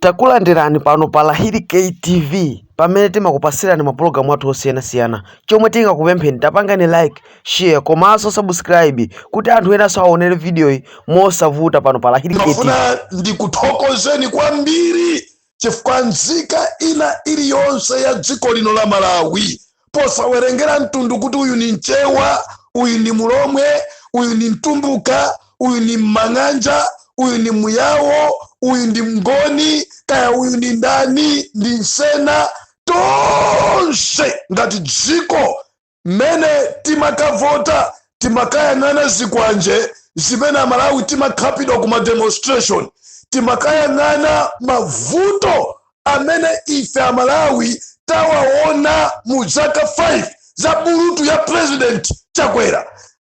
Takulandirani pano pa Rahiri K TV pamene timakupasirani mapulogalamu athu osiyanasiyana chomwe tingakupempheni tapangani like share komanso subscribe kuti anthu enanso aonere vidiyoyi mosavuta pano pa Rahiri K TV. Ndimafuna ndikuthokozeni kwambiri chifukwa nzika ina iliyonse ya dziko lino la Malawi posawerengera mtundu kuti uyu ni mchewa uyu ni mulomwe uyu ni mtumbuka uyu ni mmang'anja uyu ni muyawo uyu ndi mngoni kaya uyu ni ndani ndi nsena tonse ngati dziko mmene timakavota timakayang'ana zikwanje zimene amalawi timakhapidwa kuma demonstration timakayang'ana mavuto amene ife amalawi tawaona mu zaka 5 za bulutu ya president chakwera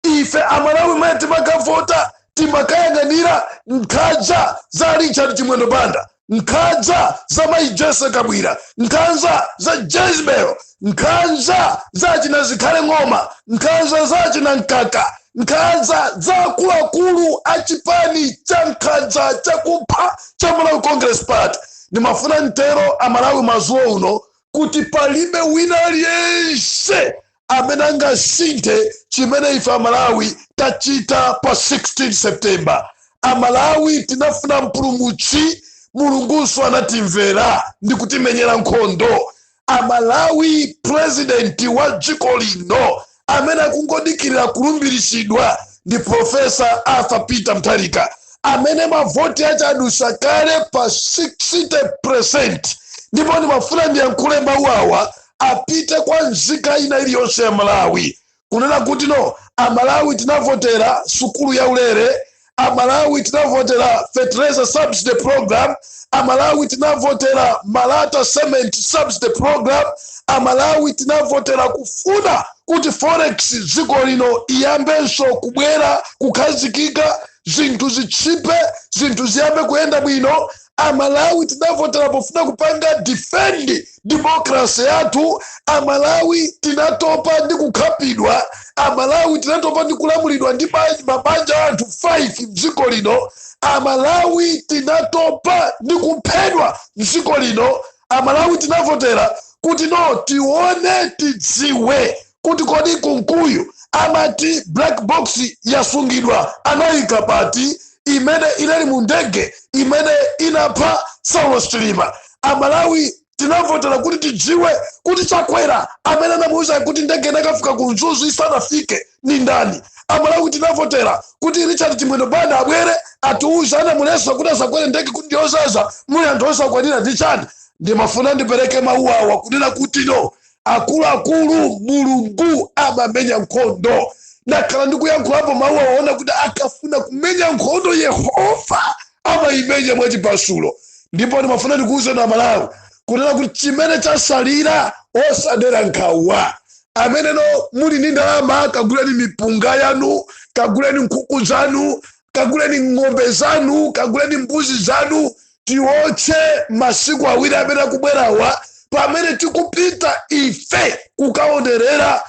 ife amalawi mene timakavota timakayang'anira nkhaza za richard chimwendo banda nkhaza za mayi jessie kabwila nkhaza za jezebel nkhanza za achina zikhale ng'oma nkhanza za achina mkaka nkhanza za akuluakulu a chipani cha nkhanza chakupha cha malawi congress party ndimafuna mtero amalawi madzulo uno kuti palibe wina aliyense amene angasinthe chimene ife amalawi tachita pa 16 september amalawi tinafuna mpulumutsi mulungunso anatimvera ndi kutimenyera nkhondo amalawi president wa dziko lino amene akungodikirira kulumbiritsidwa ndi profesa arthur peter mutharika amene mavoti ache adusa kale pa 60 percent ndipo ndimafuna ndiyankhule mawu awa apite kwa nzika ina iliyonse ya malawi kunena kuti no amalawi tinavotera sukulu ya ulere amalawi tinavotera fertilizer subsidy program amalawi tinavotera malata cement subsidy program amalawi tinavotera kufuna kuti forex dziko lino iyambenso kubwera kukhazikika zinthu zichipe zinthu ziyambe kuyenda bwino amalawi tinavotera pofuna kupanga defend democracy yathu amalawi tinatopa ndi kukhapidwa amalawi tinatopa ndi kulamulidwa ndi mabanja anthu 5 mdziko lino amalawi tinatopa ndi kuphedwa mdziko lino amalawi tinavotera kuti no tione tidziwe kuti kodi kunkuyu amati black box yasungidwa anayika pati imene inali mu ndege imene inapha saulos chilima amalawi tinavotera kuti tidziwe kuti chakwera amene anamuuza kuti ndege inakafika ku mzuzu isanafike ni ndani amalawi tinavotera kuti richard chimwendo banda abwere atiuze anamuletsa kuti asakwere ndege kuti ndiyozaza muli anthu osakwanira ndi chani ndimafuna ndipereke mawu awa kunena kuti no akuluakulu mulungu amamenya nkhondo ndakhala ndikuyankhulapo mawu awa ona kuti akafuna kumenya nkhondo yehova amayimenya mwachipasulo ndipo ndimafuna ndikuwuzeni amalawi kunena kuti chimene chatsalira osadera nkhawa amene no muli ndi ndalama kaguleni mipunga yanu kaguleni nkhuku zanu kaguleni ng'ombe zanu kaguleni mbuzi zanu tiwotche masiku awiri amene akubwerawa pamene tikupita ife kukaonerera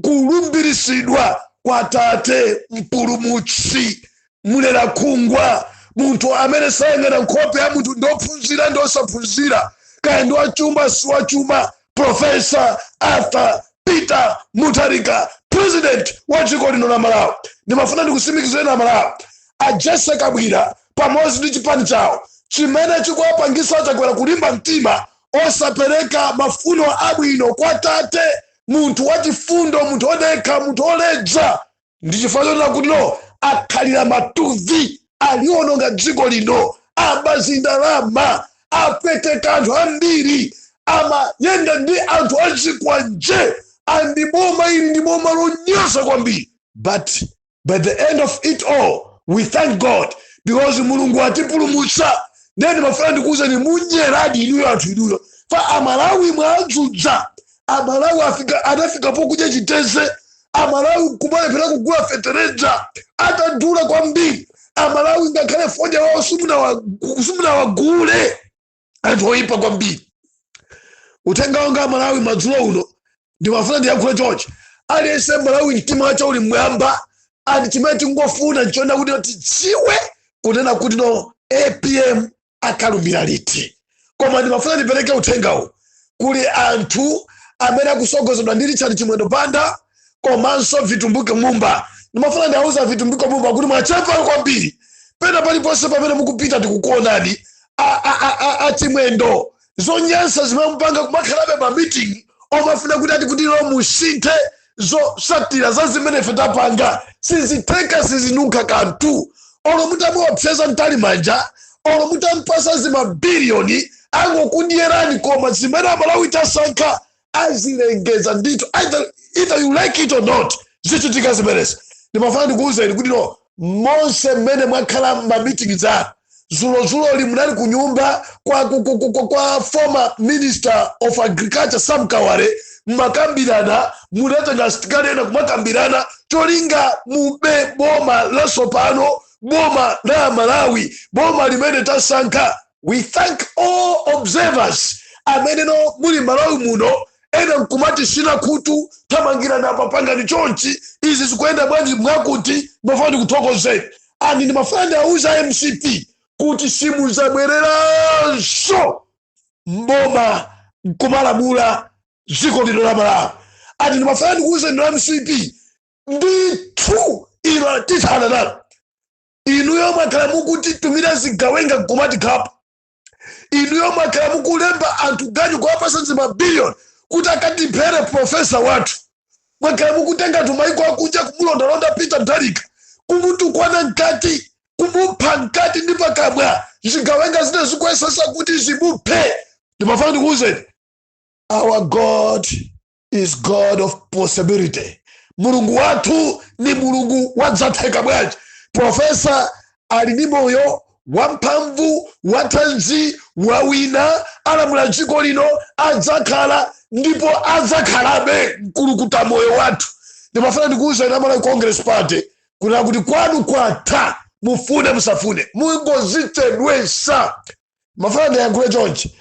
kulumbiritsidwa kwa tate mpulumutsi mlerakhungwa munthu amene sayang'ana nkhope ya munthu ndi ophunzira ndi osaphunzira kaya ndi wachuma si wachuma profesa arthur peter mutharika president wa dziko lino la malawi ndimafuna ndikusimikizireni amalawi a jessie kabwila pamodzi ndi chipani chawo chimene chikuwapangitsa chakwera kulimba mtima osapereka mafuno abwino kwa tate munthu wachifundo munthu odekha munthu oledza ndi chifukwa chonena kuti no akhalira matuvi aliononga dziko lino aba zindalama apweteka anthu ambiri amayenda ndi anthu azikwanje and boma ili ndi boma lonyosa kwambiri but by the end of it all we thank god because mulungu atipulumutsa ndiye ndimafuna ndikuwuzeni mwanyeradi inuyo anthu inuyo pa amalawi mwawazunza amalawi afika anafika pokudya chiteze amalawi kumalephera kugula fetereza atadula kwambiri amalawi ngakhale fodya wawo simunawa- simunawagule anthu oyipa kwambiri uthenga wanga amalawi madzulo uno ndimafuna ndiyakhule chonchi aliyense mmalawi mtima wake uli mmwamba and chimene tingofuna nchonena kuti tidziwe kunena kuti no apm akalumbira liti koma ndimafuna ndipereke uthengawu kwa anthu amene akutsogozedwa ndi richard chimwendo banda komanso vitumbiko mumba ndimafuna ndiwauze vitumbiko mumba kuti mwachepa kwambiri pena paliponse pamene mukupita tikukuonani a- a- a- a- achimwendo zonyansa zimene mupanga kumakhalabe ma meeting omafuna kuti ati kuti no musinthe zotsatira za zimene ife tapanga sizitheka sizinunkha kanthu olo mutamuopseza mtalimanja olo mutampasa zimabiliyoni angokudyerani koma zimene amalawi tasankha azilengeza ndithu either, either you like it or not zichitika zimenezi ndimafuna ndikuwuzeni kuti no monse mmene mwakhala mamitingi anu zulozuloli munali ku nyumba kwa, kwa, kwa, kwa, kwa former minister of agriculture sam kawale mmakambirana munatenga asitikali ena kumakambirana cholinga mube boma lasopano boma la malawi boma limene tasankha we thank all observers amene no muli malawi muno ena nkumatitsina khutu thamangira apa pangani chonchi izi zikuyenda bwanji mwakuti ndimafuna ndikuthokozeni and ndimafuna ndiauze a mcp kuti simuzabwereranso mboma nkumalamula dziko lino la malawi and ndimafuna ndikuuzeni inu a mcp ndithu ino tithana nalo inuyo mwakhala mukutitumira zigawenga nkumatikhapa inuyo mwakhala mukulemba anthu ganyu kuwapasa zimabiliyoni kuti akatiphere profesa wathu mwakhala mukutenga anthu maiko akunja kumulondalonda peter mutharika kumutukwana mkati kumupha mkati ndi pakamwa zigawenga zina zikuyesesa kuti zimuphe ndimafuna ndikuwuzeni our god is god of possibility mulungu wathu ni mulungu wa zatheka bwanji profesa ali ndi moyo wamphamvu wathanzi wawina alamula dziko lino adzakhala ndipo adzakhalabe mkulukuta moyo wathu ndimafuna ndikuuzeni a malawi congress party kunena kuti kwanu kwatha mufune musafune mungozichedwesa mafuna ndiyankhule chonchi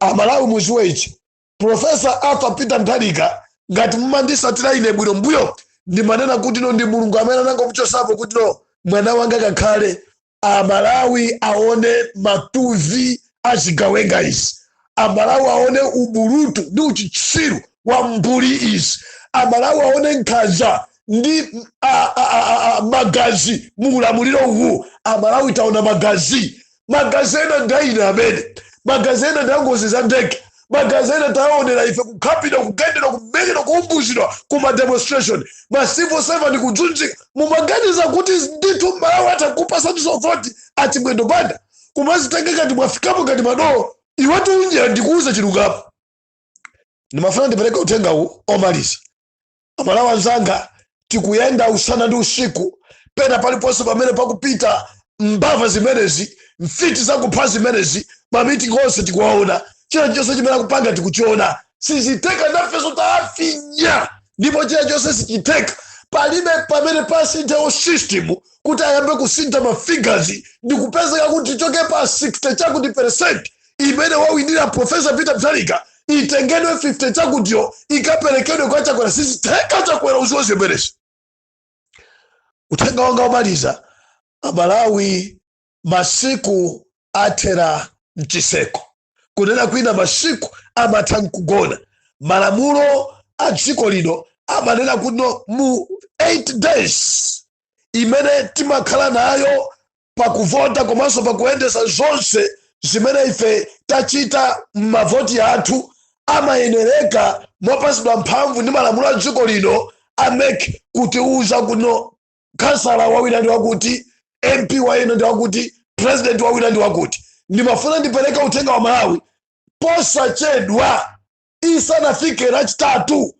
amalawi muziwe ichi Profesa Arthur Peter Mutharika, ngati mumandisatira ine bwino mbuyo ndimanena kuti no ndi mulungu amene anangomuchosapo kuti no mwana wanga kakhale amalawi aone matuvi a zigawenga izi amalawi aone ubulutu ndi uchitsiru wa mbuli izi amalawi aone nkhanza ndi a, a, a, a, a, magazi mu ulamuliro uwu amalawi taona magazi magazi ena nda ena amene magazi ena ndangozi za ndege magazi ena taonera ife kukhapidwa kugendedwa kumenyedwa kuumbuzidwa ku mademonstration ma civil servant kudzunzika mumaganiza kuti ndithu malawi atakupasaninso voti achimwendo banda kumazitenga ngati mwafikapo ngati madolo iwati unjira ndikuuza chilungamo ndimafuna ndipereke uthengawu omaliza amalawi anzanga tikuyenda usana ndi usiku pena paliponse pamene pakupita mbava zimenezi mfiti zakupha zimenezi mamitingi onse tikuwaona chilichonse chimene akupanga tikuchiona sizitheka nafeso taafinya ndipo chilichonse sichitheka palibe pamene pasinthidwe system kuti ayambe kusintha mafigazi ndi kupezeka kuti tichoke pa 60 chakuti percent imene wawinira Professor Peter Mutharika itengedwe 50 chakutiyo ikaperekedwe kwa Chakwera sizitheka Chakwera uziwe zimenezi uthenga wanga womaliza amalawi masiku athera mchiseko kunena kwina masiku amatha mkugona malamulo a dziko lino amanena kuno mu 8 days imene timakhala nayo pakuvota komanso pakuyendesa zonse zimene ife tachita m'mavoti athu amayenereka mopatsidwa mphamvu ndi malamulo a dziko lino a MEC kutiuza kuno khansala wawina ndi wakuti mp wawina ndi wakuti president wawina ndi wakuti ndimafuna ndipereke uthenga kwa amalawi posachedwa lisanafike lachitatu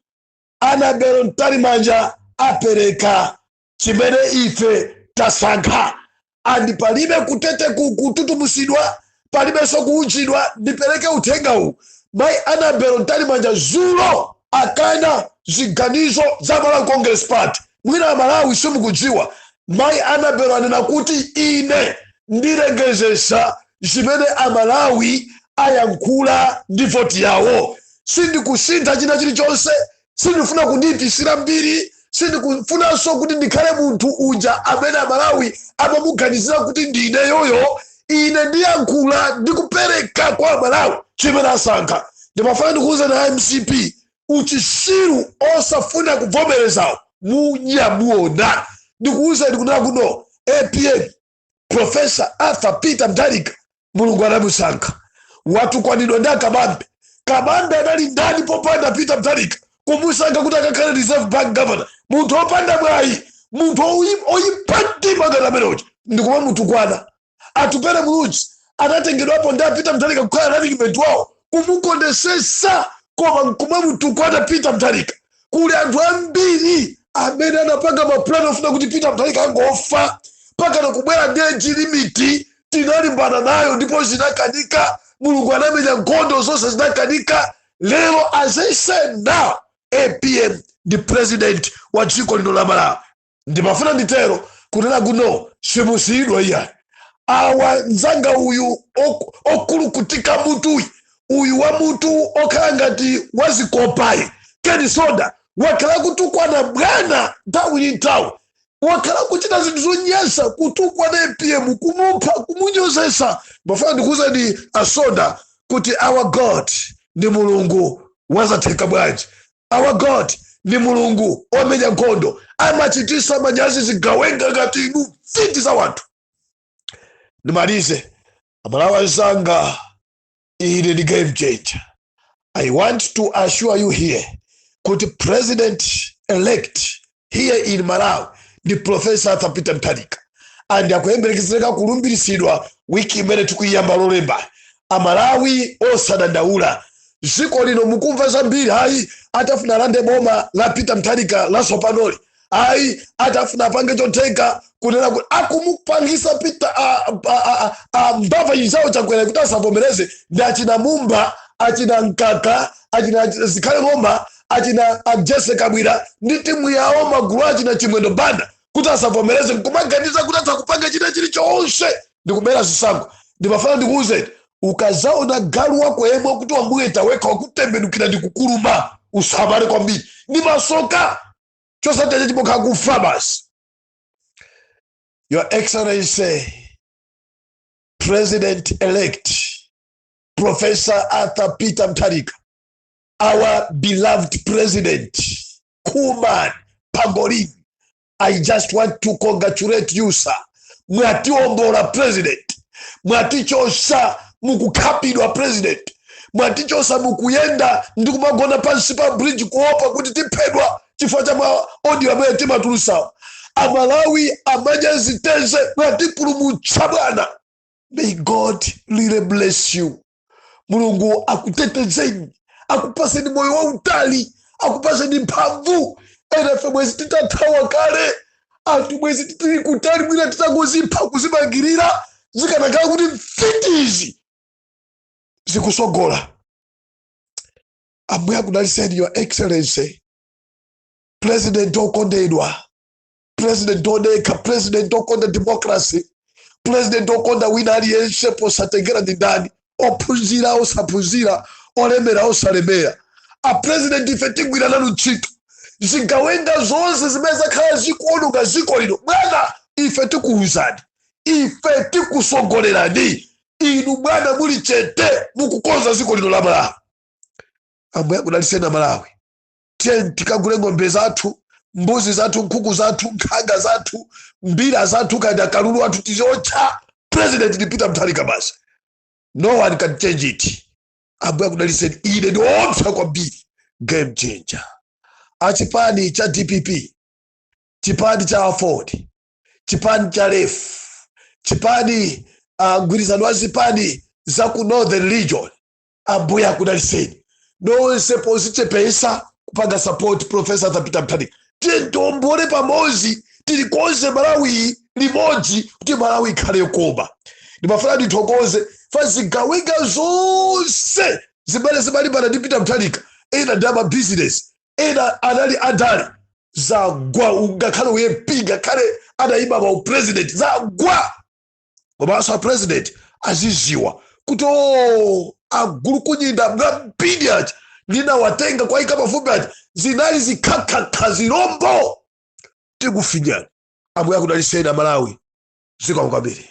Annabel Mtalimanja apereka chimene ife tasankha and palibe kuteteku kututumutsidwa palibenso kuunjidwa ndipereke uthengawu mayi Annabel Mtalimanja dzulo akana ziganizo za malawi congress party mwina amalawi simukudziwa mayi Annabel anena kuti ine ndilengezetsa zimene amalawi ayankhula ndi voti yawo sindikusintha china chilichonse sindifuna kundiipitsira mbiri sindikufunanso kuti ndikhale munthu uja amene amalawi amamuganizira kuti ndi ineyoyo ine ndiyankhula ndikupereka kwa amalawi chimene asankha ndimafuna ndikuuzeni a mcp uchisiru osafuna kuvomerezawo munya muona ndikuuzeni kunena kuno apm profesa arthur peter mutharika mulungu anamusankha watukwanidwa ndi akabambe kabambe anali ndani popanda peter mutharika kumusankha kuti akakhale reserve bank governor munthu opanda mwayi munthu oyi- oyipa mtima ngati ameneyoja ndikumamutukwana atupele muluzi anatengedwapo ndi a peter mutharika kukhala running mate wawo kumukondetsetsa koma nkumamutukwana peter mutharika kuli anthu ambiri amene anapanga mapulani ofuna kuti peter mutharika angofa mpakana kubwera ndi age limit tinalimbana nayo ndipo zinakanika mulungu anamenya nkhondo zonse zinakanika lero as i said now apm ndi president wa dziko lino la malawi ndimafuna nditero kunena kuno simusiyidwa iyayi awa nzanga uyu ok- okulukutika mutuyi uyu wa mutu okhala ngati wazikopayi ken msonda wakhala kutukwana bwana nthawi ndi nthawi wakhala kuchita zinthu zonyasa kutukwana apm kumupha kumunyozetsa ndimafuna ndikuuzeni a msonda kuti our god ndi mulungu wazatheka bwanji our god ndi mulungu omenya nkhondo amachitisa manyazi zigawenga ngati inu mfiti za wanthu ndimalize amalawi anzanga ine ndi game changer i want to assure you here kuti president elect here in malawi ndi profesa arthur peter mutharika and akuyembekezereka kulumbiritsidwa wiki imene tikuyiyamba lolemba amalawi osadandaula dziko lino mukumva zambiri ayi atafuna alande boma la peter mutharika latsopanoli ayi atafuna apange chotheka kunena kuti akumupangisa peter mbava chichawo chakwera kuti asavomereze ndi achina mumba achina nkaka achina zikhale ng'oma achina jesse kabwira ndi timu yawo magulu achina chimwendo banda kuti asavomereze nkumaganiza kuti atakupanga china chili chonse ndikubera zisankho ndimafuna ndikuwuze ukazaona galu wako yemwe kuti wamuweta wekha wakutembenukira ndikukuluma usamale kwambiri ndi masoka chosatheka chipokha kufa basi Your Excellency, President elect, Professor Arthur Peter Mutharika, our beloved president, cool man, Pangolin, I just want to congratulate you, sir. Mwatiombola president, mwatichotsa mukukhapidwa president, mwatichotsa mukuyenda ndi kumagona pansi pa bridge kuopa kuti tiphedwa. chifukwa cha ma audio amene timatulusawo amalawi amamenya ziteze mwatipulumutsa bwana may god really bless you mulungu akutetezeni akupaseni moyo wautali akupaseni mphamvu enafe mwezi titathawa kale anthu mwezi titili kutali mwina titangozipha kuzimangirira zikanakhala kuti mfitizi zikusogola ambuye akudaliseni your excellency president okondedwa president odekha president okonda democracy president okonda wina aliyense posatengera ndi ndani ophunzira osaphunzira olemera osalemera a president ife tigwira nanu ntchito zigawenga zonse zimene zakhala zikuononga ziko lino bwana ife tikuwuzani ife tikusogolerani inu bwana muli chete mukukonza ziko lino la malawi ambuye akudalitseni amalawi tiyeni tikagule ng'ombe zathu mbuzi zathu nkhuku zathu nkhanga zathu mbira zathu kaya ndi kalulu wathu tiziotcha president ndi peter mutharika basi no one can change it ambuye akudalitseni ine ndiopsa kwambiri game changer achipani cha dpp chipani cha aford chipani cha lef chipani mgwirizano wa zipani za ku northern region ambuye akudaliseni nonse pozichepesa kupanga support profesa Arthur Peter Mutharika tiye tiombole pamodzi tilikonze malawi limodzi kuti malawi ikhale yokoma ndimafuna ndithokoze pa zigawenga zonse zimene zimalimbana ndi Peter Mutharika ena ndi amabizinesi ena anali adali zagwa ungakhale UF ngakhale anayima ma upresident zagwa komanso a president aziziwa kuti o agulu kunyinda mwambiri ati ndinawatenga kwaika pafupi ati zinali zikhakhakha zirombo tikufinyani ambuye akudaliseni amalawi zikomo kwambiri